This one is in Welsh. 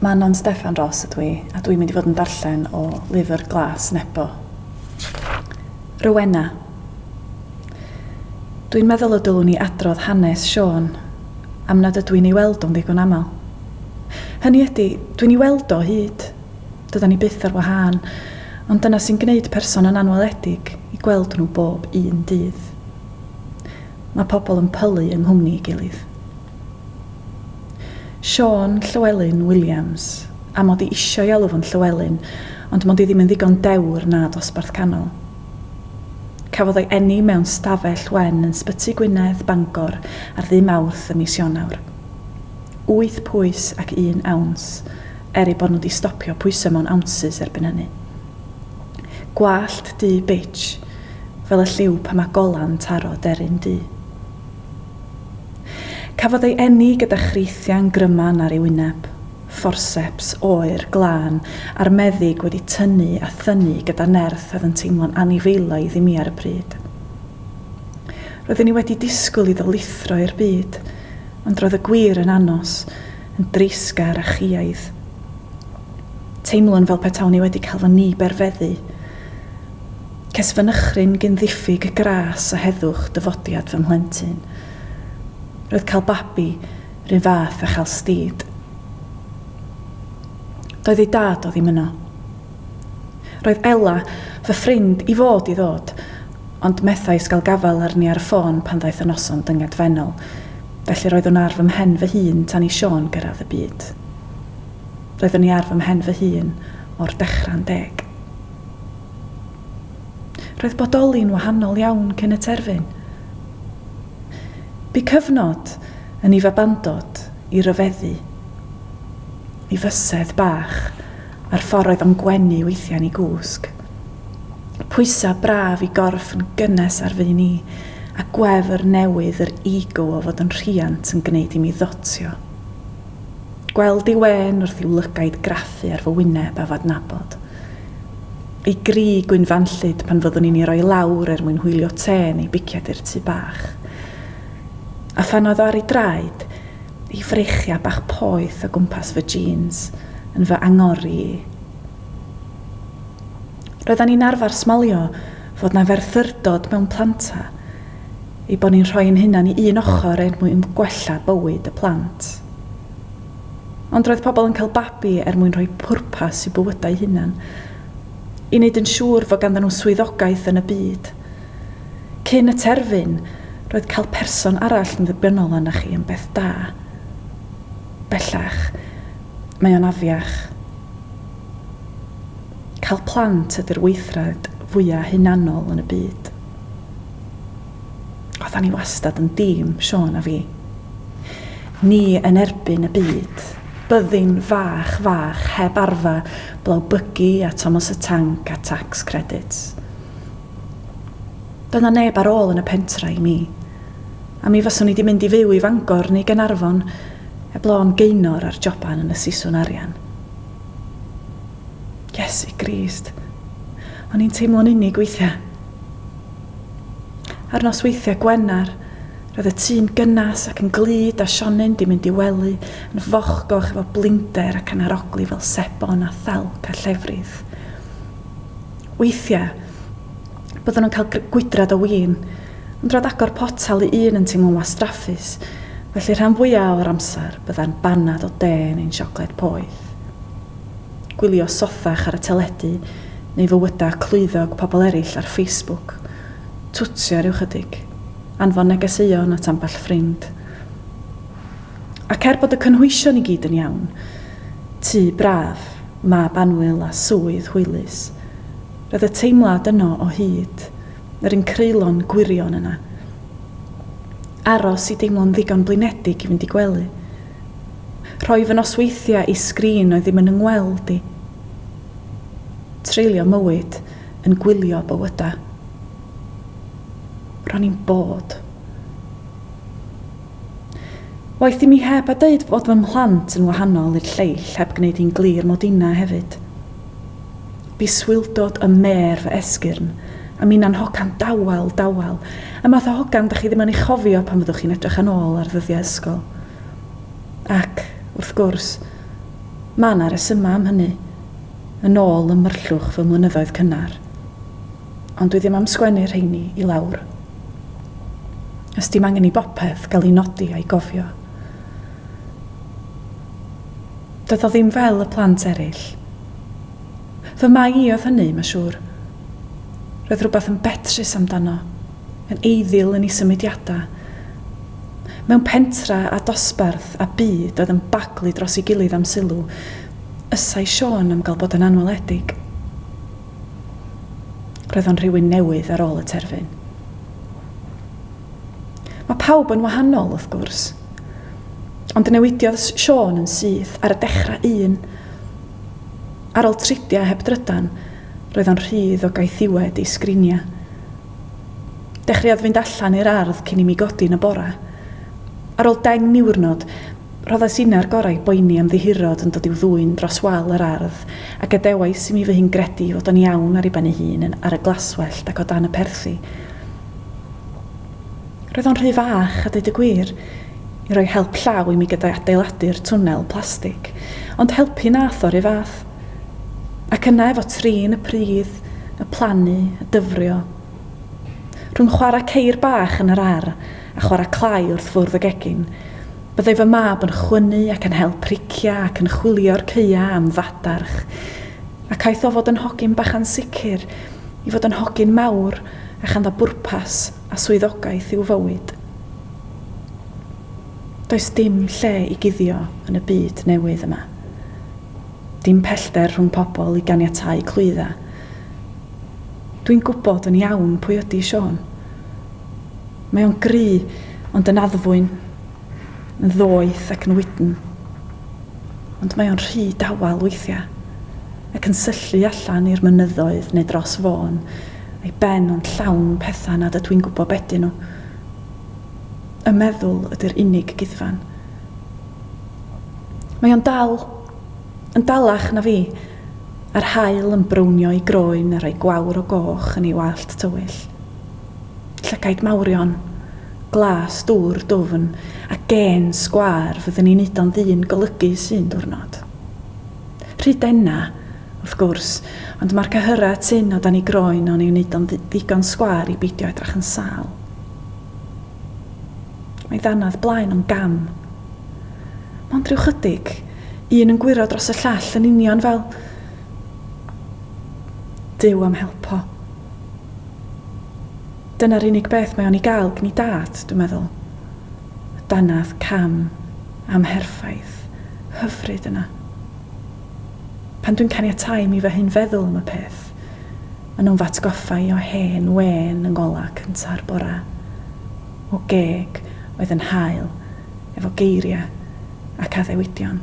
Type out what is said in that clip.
Manon Steffan Ros ydw i, a dwi'n mynd i fod yn darllen o lyfr Glas Nebo. Rowena. Dwi'n meddwl y dylwn i adrodd hanes Siôn, am nad ydw i'n ei weld o'n ddigon aml. Hynny ydi, dwi'n ei weld o hyd, Dydan ni byth ar wahân, ond dyna sy'n gwneud person yn anweledig i gweld nhw bob un dydd. Mae pobl yn pylu yng nghwmni ei gilydd. Siôn Llywelyn Williams, a mod i isio ei alw fo'n Llywelyn, ond mod i ddim yn ddigon dewr na dosbarth canol. Cafodd ei eni mewn stafell wen yn Sbyty Gwynedd, Bangor, ar ddydd Mawrth ym mis Ionawr. Wyth pwys ac un awns. er eu bod nhw wedi stopio pwyso mewn ounces erbyn hynny. Gwallt du bitch, fel y lliw pan mae gola'n taro deryn du. Cafodd ei eni gyda chreithiau'n gryman ar ei wyneb, fforseps oer, glân, a'r meddyg wedi tynnu a thynnu gyda nerth oedd yn teimlo'n anifeilaidd i mi ar y pryd. Roeddwn i wedi disgwyl iddo lithro i'r byd, ond roedd y gwir yn anos, yn dreisgar a chwiaidd. Teimlwn fel petawn i wedi cael fy ngy-berfeddu. Ces fy nychryn gyn ddiffyg gras a heddwch dyfodiad fy mhlentyn. Roedd cael babi 'r un fath â chael stid. Doedd ei dad o ddim yno. Roedd Ella, fy ffrind, i fod i ddod, ond methais gael gafael arni ar y ffôn pan ddaeth y noson dyngedfennol, felly roeddwn ar fy mhen fy hun tan i Siôn gyrraedd y byd. Roeddwn i ar fy mhen fy hun o'r dechrau'n deg. Roedd bodoli'n wahanol iawn cyn y terfyn. Bu cyfnod yn i fabandod i ryfeddu, i fysedd bach a'r ffordd oedd o'n gwenu weithiau yn ei gwsg. Pwysau braf i gorff yn gynnes ar fy ni, a gwefr newydd yr ego o fod yn rhiant yn gwneud i mi ddotio. Gweld ei wên wrth i'w lygaid graffu ar fy wyneb a f'adnabod. Ei gri gwynfanllyd pan fyddwn i'n ei roi lawr er mwyn hwylio te neu bicied i'r tŷ bach. A phan oedd o ar ei draed, Y freichiau bach poeth o gwmpas fy jîns yn fy angori i. Roeddan ni'n arfer smalio fod 'na ferthyrdod mewn planta, eu bod ni'n rhoi ein hunan i un ochr er mwyn gwella bywyd y plant. Ond roedd pobl yn cael babi er mwyn rhoi pwrpas i'w bywydau hunan, i wneud yn siŵr fod ganddyn nhw swyddogaeth yn y byd. Cyn y terfyn, roedd cael person arall yn ddibynnol arnoch chi yn beth da. Bellach, mae o'n afiach. Cael plant ydy'r weithred fwya' hunanol yn y byd. Oeddan ni wastad yn dîm, Siôn a fi. Ni yn erbyn y byd. Byddin fach, fach, heb arfa, blawbygu a Tomos y Tanc a Tax Credits. Doedd 'na neb ar ôl yn y pentra i mi, a mi faswn i 'di mynd i fyw i Fangor neu Gaernarfon heb lôn gaenor ar joban yn y siswn arian. Iesu Grist! O'n i'n teimlo'n unig weithia'. Ar nosweithia' Gwener, roedd y tŷ'n gynnas ac yn glyd a Sionyn 'di mynd i wely yn fochgoch efo blinder ac yn arogli fel sebon a thelc a llefrith. Weithiau, byddwn yn cael gwydrad o win, ond rhad agor potel i un yn teimlo'n wastraffus, felly rhan fwyaf o'r amser byddai'n baned o de neu'n siocled poeth. Gwylio sothach ar y teledu neu fywydau clwyddog pobl eraill ar Facebook, twtsio ryw chydig, anfon negeseuon at ambell ffrind. Ac er bod y cynhwysion i gyd yn iawn, tŷ braf, mab annwyl a swydd hwylus, roedd y teimlad yno o hyd, yr un creulon gwirion yna. Aros i deimlo'n ddigon blinedig i fynd i gwely. Rhoi fy nosweithiau i sgrin oedd ddim yn 'y ngweld i. Treulio mywyd yn gwylio bywydau. Ro'n i'n bod. Waeth i mi heb a deud fod fy mhlant yn wahanol i'r lleill heb gwneud hi'n glir mod inna hefyd. Bu swildod ym mêr fy esgyrn, a minna'n hogan dawel, dawel, y math o hogan dach chi ddim yn ei chofio pan fyddwch chi'n edrych yn ôl ar ddyddiau ysgol. Ac, wrth gwrs, ma' 'na resymau am hynny, yn ôl ym myrllwch fy mlynyddoedd cynnar. ond dwi ddim am sgwennu rheini i lawr. Os dim angen i bopeth gael ei nodi a'i gofio. Doedd o ddim fel y plant eraill. Fy Mai i oedd hynny, ma' siŵr. Roedd rhywbeth yn betrus amdano, yn eiddil yn ei symudiadau. Mewn pentra a dosbarth a byd oedd yn baglu dros ei gilydd am sylw, ysai Siôn am gael bod yn anweledig. Roedd o'n rhywun newydd ar ôl y terfyn. Mae pawb yn wahanol, wrth gwrs. Ond newidiodd Siôn yn syth ar y dechrau un. Ar ôl tridiau heb drydan, roedd o'n rhydd o gaethiwed i sgriniau. Dechreuodd fynd allan i'r ardd cyn i mi godi yn y bora. Ar ôl deng niwrnod, Rhoddais inna'r gorau i boeni am ddihirod yn dod i'w ddwyn dros wal yr ardd, a gadewais i mi fy hun gredu ei fod o'n iawn ar ei ben ei hun yn ar y glaswellt ac o dan y perthi. Roedd o'n rhy fach, a deud y gwir, i roi help llaw i mi gyda'i adeiladu'r twnnel plastig, ond helpu wnaeth o 'ru fath. Ac yna efo trin y pridd, y plannu, y dyfrio. Rhwng chwarae ceir bach yn yr ar', a chwarae clai wrth fwrdd y gegin. Byddai fy mab yn chwynnu ac yn hel priciau ac yn chwilio'r caeau am fadarch. Ac aeth o fod yn hogyn bach ansicr i fod yn hogyn mawr a chanddo bwrpas a swyddogaeth i'w fywyd. Does dim lle i guddio yn y byd newydd yma. Dim pellter rhwng pobl i ganiatáu clwyddau. Dwi'n gwybod yn iawn pwy ydi Siôn. Mae o'n gry, ond yn addfwyn, yn ddoeth ac yn wydn. Ond mae o'n rhy dawel weithiau, ac yn syllu allan i'r mynyddoedd neu dros fôn, a'i ben o'n llawn pethau nad ydw i'n gwybod be 'dyn nhw. Y meddwl ydy'r unig guddfan. Mae o'n dal, yn dalach na fi, a'r haul yn brownio ei groen a rhoi gwawr o goch yn ei wallt tywyll. Llygaid mawrion, glas dŵr dwfn a gên sgwâr fyddwn i'n neud o'n ddyn golygus un diwrnod. Rhy dena, wrth gwrs, ond mae'r cyhyrau tynn o dan ei groen o'n i'w neud o'n ddigon sgwâr i beidio edrach yn sâl. Mae ddanadd blaen o'n gam. Mond rhyw chydig, un yn gwyro dros y llall yn union fel... Duw am helpo. Dyna'r unig beth mae o'n ei gael gin ei dad, dwi'n meddwl. Y dannedd cam amherffaith hyfryd yna. Pan dwi'n caniatáu i mi fy hun feddwl am y peth, ma' nhw'n fy atgoffa i o hen wên yng ngolau cynta'r bore, o geg oedd yn hael efo geiriau ac addewidion.